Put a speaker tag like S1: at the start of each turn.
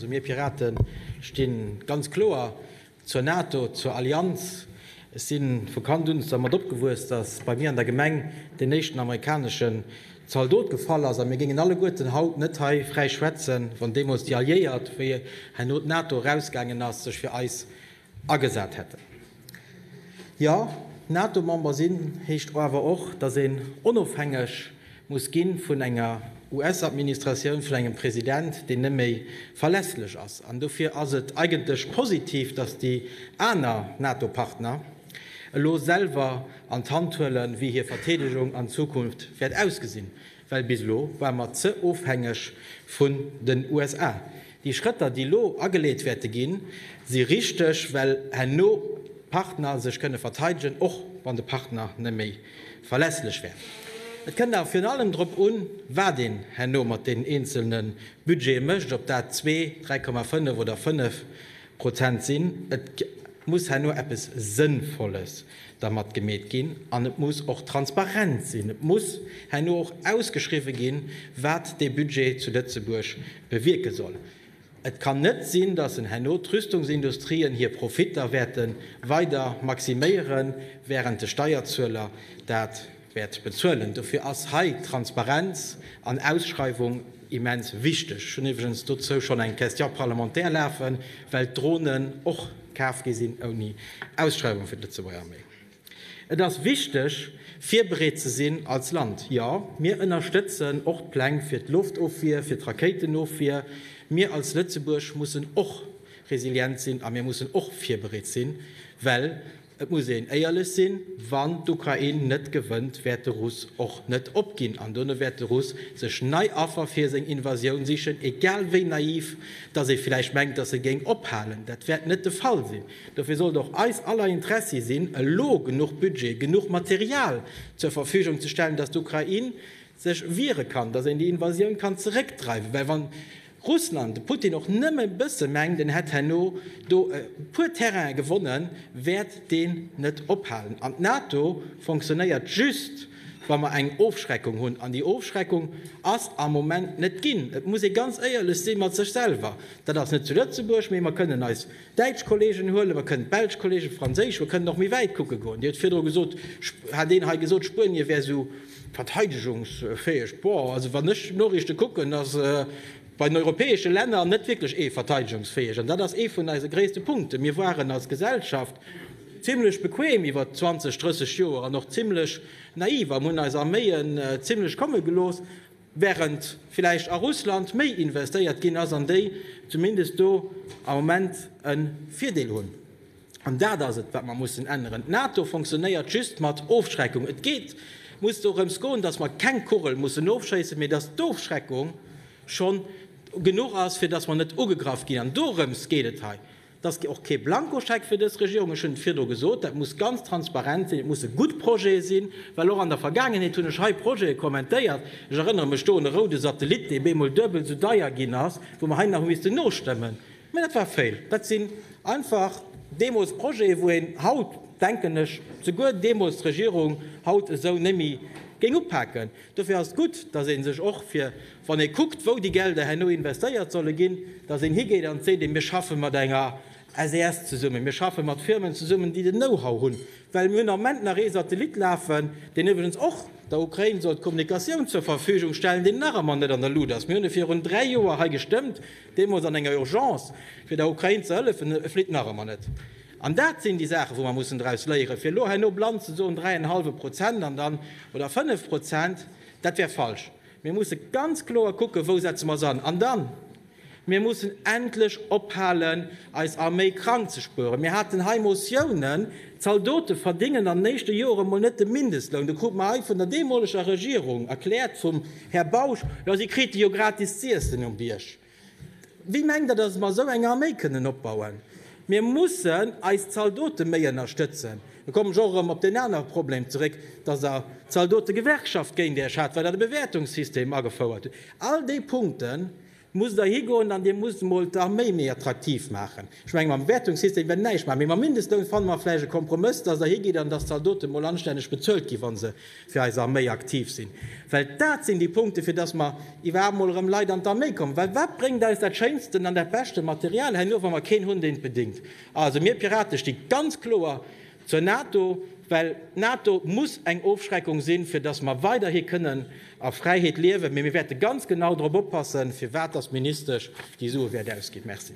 S1: Also mir Piraten stinn ganz kloer zur NATO, zur Allianz. Ech sinn vu Kand un dermat opgewuess, dass bei mir an der Gemeng deen éischten amerikaneschen Zaldot gefall ass. A mir géingen alleguerten haut net hei fräi schwätzen, wann deemools déi Alliéiert, wéi herno d'NATO erausgaangen ass, sech fir eis Agesat hätten. Jo, NATO-Member sinn heescht awer och, datt een onofhängeg muss gi vun enger US-Administratioun, vun engem President, deen net méi verlässlech ass. An dofir ass et eigentlech positiv, datt déi aner NATO-Partner elo selwer an d'Hand huelen, wéi hir Verteedegung an Zukunft wäert ausgesinn. Well bis elo ware mer ze ofhängeg vun den USA. Déi Schrëtter, déi elo ageleet wäerte ginn, si richteg, well herno d'Partner sech kënne verteidegen, och wann de Partner net méi verlässlech wär. Et kënnt awer virun allem drop un, wat een herno mat deenen eenzelne Budgete mécht, ob dat zwee, 3,5 oder fënnef Prozent sinn. Et muss herno eppes Sënnvolles dermat gemeet ginn an et muss och transparent sinn. Et muss herno och ausgeschriwwe ginn, wat dee Budget zu Lëtzebuerg bewierke soll. Et kann net sinn, datt en herno d'Rüstungsindustrien hir Profitter wäerte weider maximéieren, wärend de Steierzueler dat, wäert bezuelen. Dofir ass hei Transparenz an Ausschreiwung immens wichteg. Ech hunn iwwregens dozou schonn eng Question parlementaire lafen, well d'Dronen och kaf gi sinn ouni Ausschreiwung fir d'Lëtzebuerger Arméi. Et ass wichteg, virbereet ze sinn als Land. Jo, mir ënnerstëtzen och d'Pläng fir d'Loftofwier, fir d'Rakéitenofwier. Mir als Lëtzebuerg mussen och resilient sinn a mir mussen och virbereet sinn, well, Et muss een éierlech sinn, Wann d'Ukrain net gewënnt, wäert de Russ och net opginn an dono wäert de Russ sech nei Affer fir seng Invasioun sichen, egal wéi naiv dass ee vläicht mengt, dass e géing ophalen. Dat wäert net de Fall sinn. Dofir sollt och eis aller Interessi sinn, elo genuch Budget, genuch Material zur Verfügung ze stellen, dass d'Ukrain sech wiere kann, dass een déi Invasioun kann zeréckdreiwen, well wann Russland, de Putin och nëmme bësse mengt en hätt herno do e puer Terrainen gewonnen, wäert deen net ophalen. An d'NATO fonctionnéiert just, wa mer eng Ofschreckung hunn. An déi Ofschreckung ass am Moment net ginn. Et muss ee ganz éierlech si mat sech selwer. Dat ass net zu Lëtzebuerg, mee mer kënnen eis Däitsch Kollegen huelen, mer kënnen d'belsch Kollegen, d'franséisch, mer kënnen och méi wäit kucke goen. Dir hutt virdru gesot, hat een hei gesot, Spuenie wär esou verteidegungsfäeg. Boah, also wann ech d'Noriichte kucken, da ass bei den europäesche Länner net wierklech ee verteidegungsfäeg. An dat ass ee vun eise gréisste Punkten. Mir waren als Gesellschaft zimlech bequem iwwert 20, 30 Joer an och zimlech naiv an hunn eis Arméien zimlech komme gelooss. während villäicht a Russland méi investéiert ginn ass an déi zumindest do am Moment e Virdeel hunn. An dat ass et, wat mer mussen änneren. D'NATO fonctionnéiert just mat Ofschreckung. Et geet, muss dorëms goen, dass mer keng Kugel mussen ofschéissen, mee dass d'Ofschreckung schonn genuch ass, fir dass mer net ugegraff ginn. An dorëms geet et hei. Et ass och kee Blankoscheck fir dës Regierung. Ech hunn et virdru gesot, Dat muss ganz transparent sinn. Et musse gutt Projete sinn. Well och an der Vergaangenheet hunn ech hei Projete kommentéiert, ech erënnere mech do un e roude Satellit, dee bemol duebel esou deier ginn ass, wou mer hei nach hu missten nostëmmen. Mä dat war fail. Dat sinn einfach deemools Projete, wou een haut, denken ech, souguer deemools d'Regierung, haut esou némmi géing upaken. Dofir ass et gutt, dass ee sech och fir, wann ee kuckt, wou déi Gelder herno investéiert solle ginn, dass een higeet an seet, mir schaffe mat enger SAS zesummen, mir schaffe mat Firmen zesummen, déi den Know-how hunn. Well mir hunn am Moment nach ee Satellit lafen, deen iwwregens och der Ukrain soll d'Kommunikatioun zur Verfügung stellen, deen nach ëmmer net an der Luut ass. Mir hunn e virun dräi Joer hei gestëmmt, deemools an enger Urgence, fir der Ukrain ze hëllefen. E flitt nach ëmmer net. An dat sinn déi Saachen, wou mer mussen draus léieren. Fir elo herno blann ze soen, dräi an e hallwe Prozent an dann, oder fënnef Prozent, dat wär falsch. Mir musse ganz kloer kucken, wou setze mer se an. An dann, mir mussen endlech ophalen, eis Arméi krank ze spueren. Mir haten hei Motiounen, d'Zaldote verdingen an den éischte Joren emol net de Mindestloun. Da krut mer hei vun der deemoleger Regierung erkläert, vum Här Bausch, Jo, si krite jo gratis z'iessen um Bierg. Wie mengt der, dass mer esou eng Arméi kënnen opbauen? Mir mussen eis Zaldote méi ënnerstëtzen. Da kommen ech och erëm op deen anere Problem zeréck, dass der Zaldotegewerkschaft géint Iech hat, well Der de Bewäertungssystem agefouert hutt. All déi Punkte musst Der higoen an Dir musst emol d'Arméi méi attraktiv maachen. Ech menge mam Bewäertungssystem wäert een näischt maachen, mee mam Mindestloun fanne mer vläicht e Kompromëss, dass der higeet an dass d'Zaldote mol anstänneg bezuelt ginn, wa se fir eis Arméi aktiv sinn. Well dat sinn déi Punkte, fir dass mer iwwerhaapt mol erëm Leit an d'Arméi kommen. Well wat bréngt eis dat schéinsten an dat beschte Material herno, wa mer keen hunn, deen et bedingt? Also, mir Pirate sti ganz kloer zur NATO, well d'NATO muss eng Ofschreckung sinn, fir dass mer weiderhi kënnen a Fräiheet liewen. Mee mir wäerte ganz genau drop oppassen, firwat dass d'Ministesch déi Sue wäert ausginn. Merci.